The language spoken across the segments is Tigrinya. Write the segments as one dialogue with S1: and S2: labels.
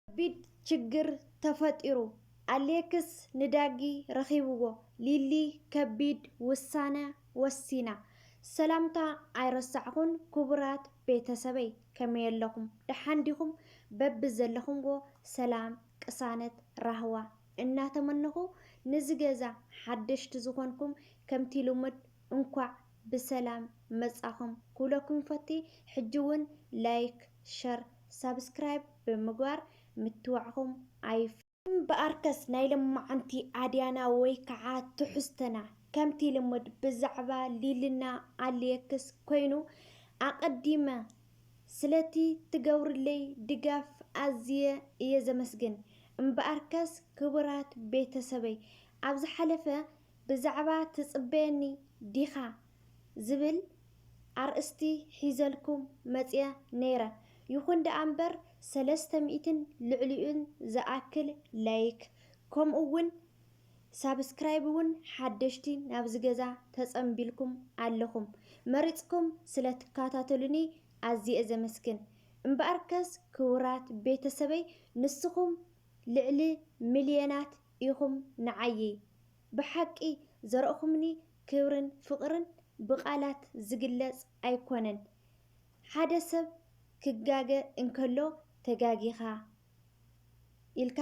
S1: ከቢድ ችግር ተፈጢሩ ኣሌክስ ንዳጊ ረኺብዎ ሊሊ ከቢድ ውሳነ ወሲና። ሰላምታ ኣይረሳዕኹን ክቡራት ቤተሰበይ ከመይ ኣለኹም ደሓን ዲኹም በብዘለኹምዎ ሰላም ቅሳነት ራህዋ እናተመነኹ ንዚ ገዛ ሓደሽቲ ዝኾንኩም ከምቲ ልሙድ እንኳዕ ብሰላም መፃኹም ክብለኩም ይፈቲ ሕጂ ውን ላይክ ሸር ሳብስክራይብ ብምግባር ምትዋዕኹም ኣይፍ። እምበኣርከስ ናይ ሎማዓንቲ ኣድያና ወይ ከዓ ትሕዝቶና ከምቲ ልሙድ ብዛዕባ ሊልና ኣልየክስ ኮይኑ ኣቀዲመ ስለቲ ትገብርለይ ድጋፍ ኣዝየ እየ ዘመስግን እምበኣርከስ ክቡራት ቤተሰበይ ኣብ ዝሓለፈ ብዛዕባ ትጽበየኒ ዲኻ ዝብል ኣርእስቲ ሒዘልኩም መጺኣ ነይረ። ይኹን ደኣ እምበር ሰለስተ ሚእትን ልዕሊኡን ዝኣክል ላይክ ከምኡ ውን ሳብስክራይብ ውን ሓደሽቲ ናብዚ ገዛ ተጸንቢልኩም ኣለኹም። መሪጽኩም ስለ ትከታተሉኒ ኣዝየ ዘመስግን። እምበኣርከስ ክቡራት ቤተሰበይ ንስኹም ልዕሊ ሚልዮናት ኢኹም ንዓይይ ብሓቂ ዘረእኹምኒ ክብርን ፍቅርን ብቃላት ዝግለፅ ኣይኮነን ሓደ ሰብ ክጋገ እንከሎ ተጋጊኻ ኢልካ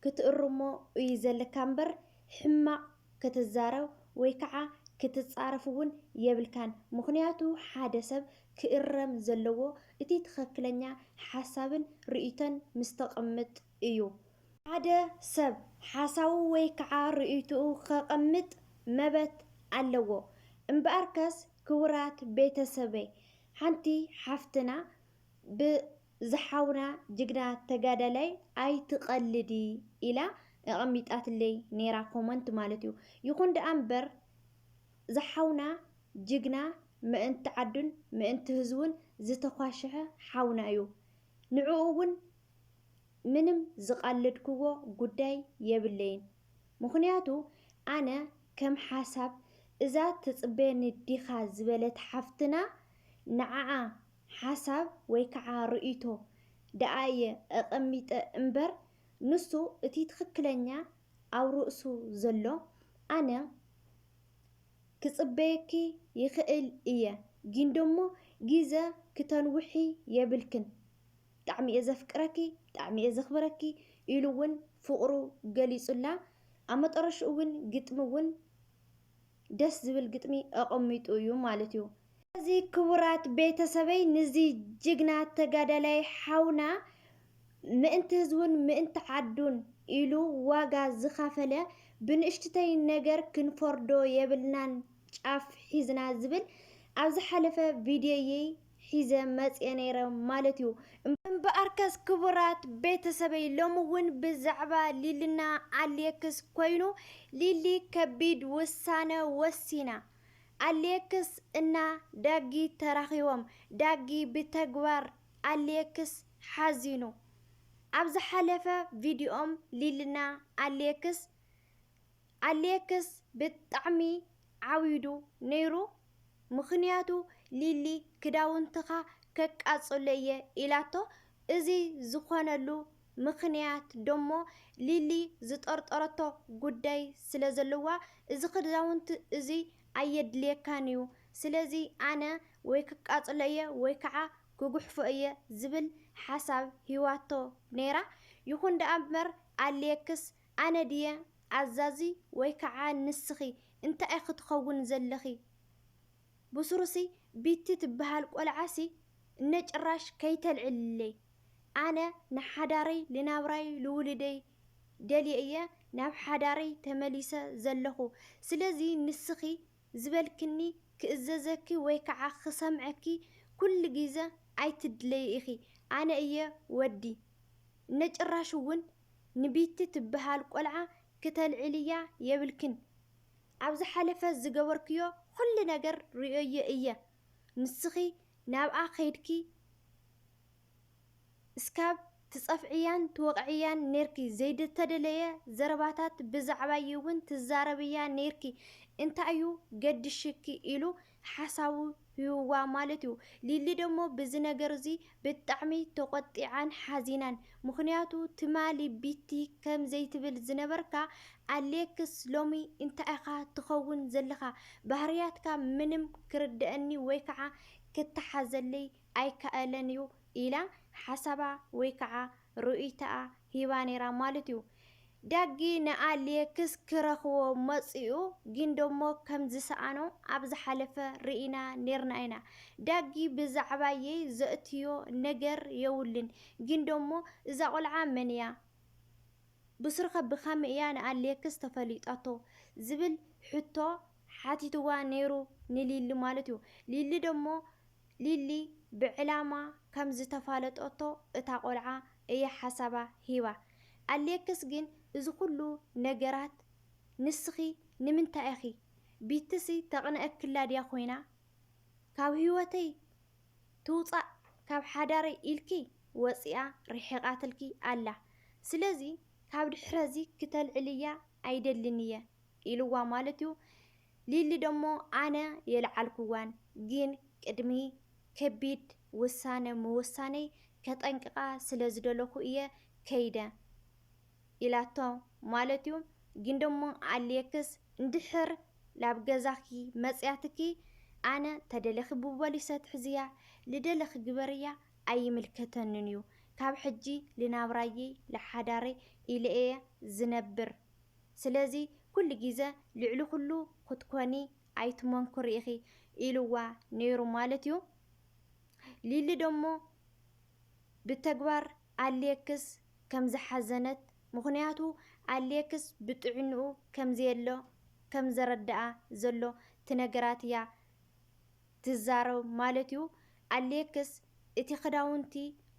S1: ክትእርሞ እዩ ዘለካ እምበር ሕማቅ ክትዛረብ ወይ ከዓ ክትፃረፍ እውን የብልካን ምኽንያቱ ሓደ ሰብ ክእረም ዘለዎ እቲ ትኸክለኛ ሓሳብን ርእይቶን ምስተቅምጥ እዩ። ሓደ ሰብ ሓሳዊ ወይ ከዓ ርእይትኡ ከቐምጥ መበት ኣለዎ። እምበኣርከስ ክቡራት ቤተሰበይ ሓንቲ ሓፍትና ብ ዝሓውና ጅግና ተጋዳላይ ኣይትቐልዲ ኢላ ኣቐሚጣትለይ ነይራ ኮመንት ማለት እዩ። ይኹን ደኣ እምበር ዝሓውና ጅግና ምእንቲ ዓዱን ምእንቲ ህዝቡን ዝተዃሸሐ ሓውና እዩ። ንዕኡ እውን ምንም ዝቃለድክዎ ጉዳይ የብለይን ምኽንያቱ ኣነ ከም ሓሳብ እዛ ትጽበየኒ ዲኻ ዝበለት ሓፍትና ንዓኣ ሓሳብ ወይ ከዓ ርእይቶ ደኣ እየ ኣቀሚጠ እምበር ንሱ እቲ ትኽክለኛ ኣብ ርእሱ ዘሎ ኣነ ክጽበየኪ ይኽእል እየ ጊንዶሞ ጊዘ ክተንውሒ የብልክን ብጣዕሚ እየ ዘፍቅረኪ ብጣዕሚ እየ ዘኽብረኪ ኢሉ እውን ፍቕሩ ገሊፁላ። ኣብ መጠረሽኡ እውን ግጥሚ እውን ደስ ዝብል ግጥሚ ኣቐሚጡ እዩ ማለት እዩ። ስለዚ ክቡራት ቤተሰበይ ንዚ ጅግና ተጋዳላይ ሓውና ምእንቲ ህዝቡን ምእንቲ ዓዱን ኢሉ ዋጋ ዝኸፈለ ብንእሽትተይ ነገር ክንፈርዶ የብልናን ጫፍ ሒዝና ዝብል ኣብ ዝሓለፈ ቪድዮይይ ሒዘ መጽየ ነይረ ማለት እዩ። እምበኣርከስ ክቡራት ቤተሰበይ ሎሚ እውን ብዛዕባ ሊልና ኣሌክስ ኮይኑ ሊሊ ከቢድ ውሳነ ወሲና። ኣሌክስ እና ዳጊ ተራኺቦም። ዳጊ ብተግባር ኣሌክስ ሓዚኑ። ኣብ ዝሓለፈ ቪድዮም ሊልና ኣሌክስ ኣሌክስ ብጣዕሚ ዓዊዱ ነይሩ ምኽንያቱ ሊሊ ክዳውንትኻ ከቃጽሎ እየ ኢላቶ እዚ ዝኾነሉ ምኽንያት ደሞ ሊሊ ዝጠርጠረቶ ጉዳይ ስለ ዘለዋ እዚ ክዳውንቲ እዙይ ኣየድልየካን እዩ ስለዚ ኣነ ወይ ክቃጽሎ እየ ወይ ከዓ ክጉሕፎ እየ ዝብል ሓሳብ ሂዋቶ ነይራ ይኹን ደኣ እምበር ኣሌክስ ኣነ ድየ ኣዛዚ ወይ ከዓ ንስኺ እንታይ ኢኺ ትኸውን ዘለኺ ብሱሩሲ ቢቲ ትብሃል ቆልዓ ሲ እነ ጭራሽ ከይተልዕልለይ ኣነ ንሓዳረይ ልናብራይ ልውልደይ ደልየ እየ ናብ ሓዳረይ ተመሊሰ ዘለኹ ስለዚ ንስኺ ዝበልክኒ ክእዘዘኪ ወይ ከዓ ክሰምዐኪ ኩሉ ግዘ ኣይትድለዪ ኢኺ ኣነ እየ ወዲ እነ ጭራሽ እውን ንቢቲ ትብሃል ቆልዓ ክተልዕልያ የብልክን ኣብ ዝሓለፈ ዝገበርክዮ ኹሉ ነገር ሪኦዮ እየ ንስኺ ናብኣ ከይድኪ እስካብ ትፀፍዕያን ትወቅዕያን ነይርኪ ዘይተደለየ ዘረባታት ብዛዕባይ እውን ትዛረብያ ነይርኪ እንታይ እዩ ገድሽኪ ኢሉ ሓሳቡ ሂቡዋ ማለት እዩ። ሊሊ ደሞ ብዚ ነገር እዚ ብጣዕሚ ተቆጢዓን ሓዚናን ምኽንያቱ ትማሊ ቢቲ ከም ዘይትብል ዝነበርካ ኣሌክስ ሎሚ እንታይ ኢኻ ትኸውን ዘለኻ ባህርያትካ ምንም ክርደኣኒ ወይ ከዓ ክተሓዘለይ ኣይከኣልን እዩ ኢላ ሓሳባ ወይ ከዓ ርኡይታኣ ሂባ ነይራ ማለት እዩ። ዳጊ ንኣሌክስ ክረኽቦ መፂኡ ግን ደሞ ከምዝሰኣኖ ኣብ ዝሓለፈ ርኢና ነይርና ኢና። ዳጊ ብዛዕባየይ ዘእትዮ ነገር የውልን ግን ደሞ እዛ ቆልዓ መን እያ? ብስሩኸ ብኸምይ እያ ንኣሌክስ ተፈሊጣቶ? ዝብል ሕቶ ሓቲትዋ ነይሩ ንሊሊ ማለት እዩ። ሊሊ ደሞ ሊሊ ብዕላማ ከም ዝተፋለጠቶ እታ ቆልዓ እያ ሓሳባ ሂባ። ኣሌክስ ግን እዚ ኩሉ ነገራት ንስኺ ንምንታይ ኢኺ ቢትሲ ተቅንኣክላ ድያ ኮይና ካብ ሂወተይ ትውጻእ ካብ ሓዳረይ ኢልኪ ወጺኣ ሪሒቃትልኪ ኣላ ስለዚ ካብ ድሕረዚ ክተልዕልያ ኣይደልን እየ ኢልዋ ማለት እዩ። ሊሊ ደሞ ኣነ የልዓልክዋን ግን ቅድሚ ከቢድ ውሳነ ምውሳነይ ከጠንቅቃ ስለ ዝደለኹ እየ ከይደ ኢላቶ ማለት እዩ። ግን ደሞ ኣሌክስ እንድሕር ናብ ገዛኺ መጽያትኪ ኣነ ተደለኺ ብቦሊሰ ትሕዝያ ልደለኺ ግበርያ ኣይምልከተንን እዩ ካብ ሕጂ ልናብራየይ ልሓዳረይ ኢለ እየ ዝነብር ስለዚ ኩሉ ግዘ ልዕሊ ኩሉ ክትኮኒ ኣይትመንኩሪ ኢኺ ኢልዋ ነይሩ ማለት እዩ። ሊሊ ደሞ ብተግባር ኣሌክስ ከም ዝሓዘነት ምኽንያቱ ኣሌክስ ብጥዕንኡ ከም ዘየሎ ከም ዘረደኣ ዘሎ ትነግራት እያ። ትዛረብ ማለት እዩ ኣሌክስ እቲ ክዳውንቲ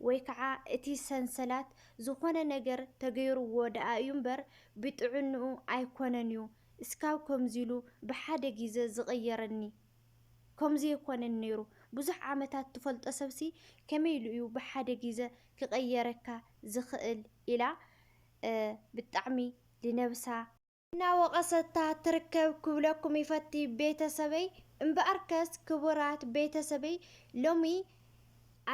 S1: ወይ ከዓ እቲ ሰንሰላት ዝኾነ ነገር ተገይርዎ ደኣ እዩ እምበር ብጥዕንኡ ኣይኮነን እዩ እስካብ ከምዚ ኢሉ ብሓደ ግዘ ዝቅየረኒ ከምዚ ኣይኮነን ነይሩ ብዙሕ ዓመታት ትፈልጦ ሰብሲ ከመይ ኢሉ እዩ ብሓደ ግዘ ክቀየረካ ዝክእል ኢላ ብጣዕሚ ልነብሳ እናወቐሰታ ትርከብ ክብለኩም ይፈቲ ቤተሰበይ። እምበኣርከስ ክቡራት ቤተሰበይ ሎሚ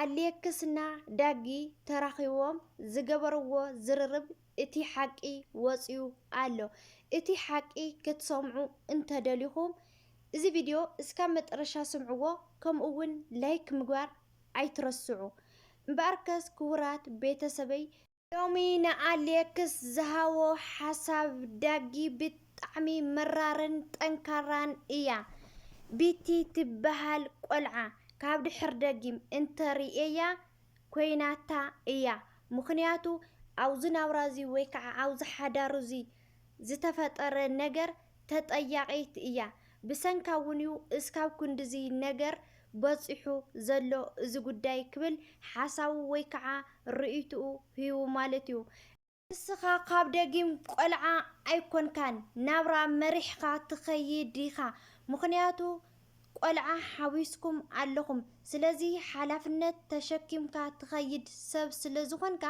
S1: ኣሌክስና ዳጊ ተራኺቦም ዝገበርዎ ዝርርብ እቲ ሓቂ ወፅዩ ኣሎ። እቲ ሓቂ ክትሰምዑ እንተደሊኹም እዚ ቪድዮ እስካብ መጠረሻ ስምዕዎ ከምኡ እውን ላይክ ምግባር ኣይትረስዑ። እምበኣርከስ ክቡራት ቤተሰበይ። ሎሚ ንኣሌክስ ዝሃቦ ሓሳብ ዳጊ ብጣዕሚ መራርን ጠንካራን እያ ቢቲ ትበሃል ቆልዓ ካብ ድሕር ደጊም እንተ ሪኤያ ኮይናታ እያ ምኽንያቱ ኣውዚ ናብራ እዚ ወይ ከዓ ኣውዚ ሓዳር እዚ ዝተፈጠረ ነገር ተጠያቂት እያ ብሰንካ እውን እዩ እስካብ ክንድዚ ነገር በፂሑ ዘሎ እዚ ጉዳይ ክብል ሓሳቡ ወይ ከዓ ርእይትኡ ህቡ ማለት እዩ። ንስኻ ካብ ደጊም ቆልዓ ኣይኮንካን ናብራ መሪሕኻ ትኸይድ ኢኻ ምኽንያቱ ቆልዓ ሓዊስኩም ኣለኹም ስለዚ ሓላፍነት ተሸኪምካ ትኸይድ ሰብ ስለዝኾንካ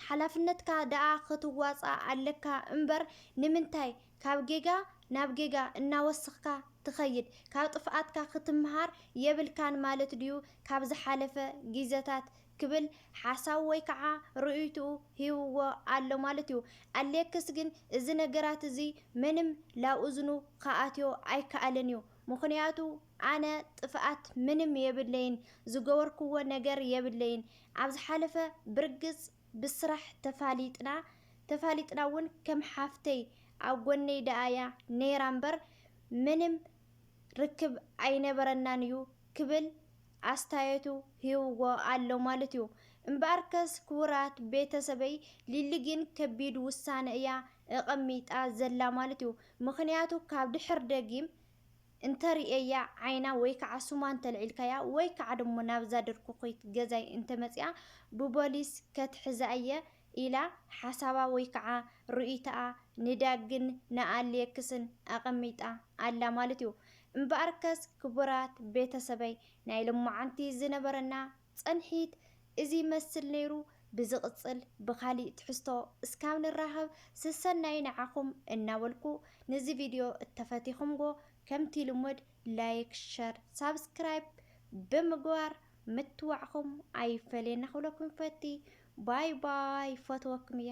S1: ሓላፍነትካ ደኣ ክትዋጻእ ኣለካ እምበር ንምንታይ ካብ ጌጋ ናብ ጌጋ እናወሰኽካ ትኸይድ ካብ ጥፍኣትካ ክትምሃር የብልካን ማለት ድዩ ካብ ዝሓለፈ ጊዘታት ክብል ሓሳቡ ወይ ከዓ ርእይትኡ ሂብዎ ኣሎ ማለት እዩ ኣሌክስ ግን እዚ ነገራት እዚ ምንም ላብ እዝኑ ክኣትዮ ኣይከኣለን እዩ ምኽንያቱ ኣነ ጥፍኣት ምንም የብለይን ዝገበርክዎ ነገር የብለይን ኣብ ዝሓለፈ ብርግጽ ብስራሕ ተፋሊጥና ተፋሊጥና ውን ከም ሓፍተይ ኣብ ጎነይ ደኣ እያ ነይራ እምበር ምንም ርክብ ኣይነበረናን እዩ ክብል ኣስታየቱ ሂብዎ ኣሎ ማለት እዩ እምበኣርከስ ክቡራት ቤተሰበይ ሊሊ ግን ከቢድ ውሳነ እያ እቐሚጣ ዘላ ማለት እዩ ምኽንያቱ ካብ ድሕር ደጊም እንተ ርእየያ ዓይና ወይ ከዓ ስማ እንተ ልዒልካያ ወይ ከዓ ድሞ ናብዛ ድርኩኺት ገዛይ እንተ መጺኣ ብቦሊስ ከትሕዛ እየ ኢላ ሓሳባ ወይ ከዓ ርእይቶኣ ንዳግን ንኣሌክስን ኣቐሚጣ ኣላ ማለት እዩ እምበኣርከስ ክቡራት ቤተሰበይ ናይ ልሞዓንቲ ዝነበረና ጸንሒት እዚ ይመስል ነይሩ ብዝቕጽል ብኻሊእ ትሕዝቶ እስካብ ንራኸብ ስሰናዩ ንዓኹም እናበልኩ ንዚ ቪድዮ እተፈቲኹምዎ ከምቲ ልሙድ ላይክ ሸር ሳብስክራይብ ብምግባር ምትዋዕኹም ኣይፈለየና ክብለኩም ይፈቲ ባይ ባይ ይፈትወኩም እየ።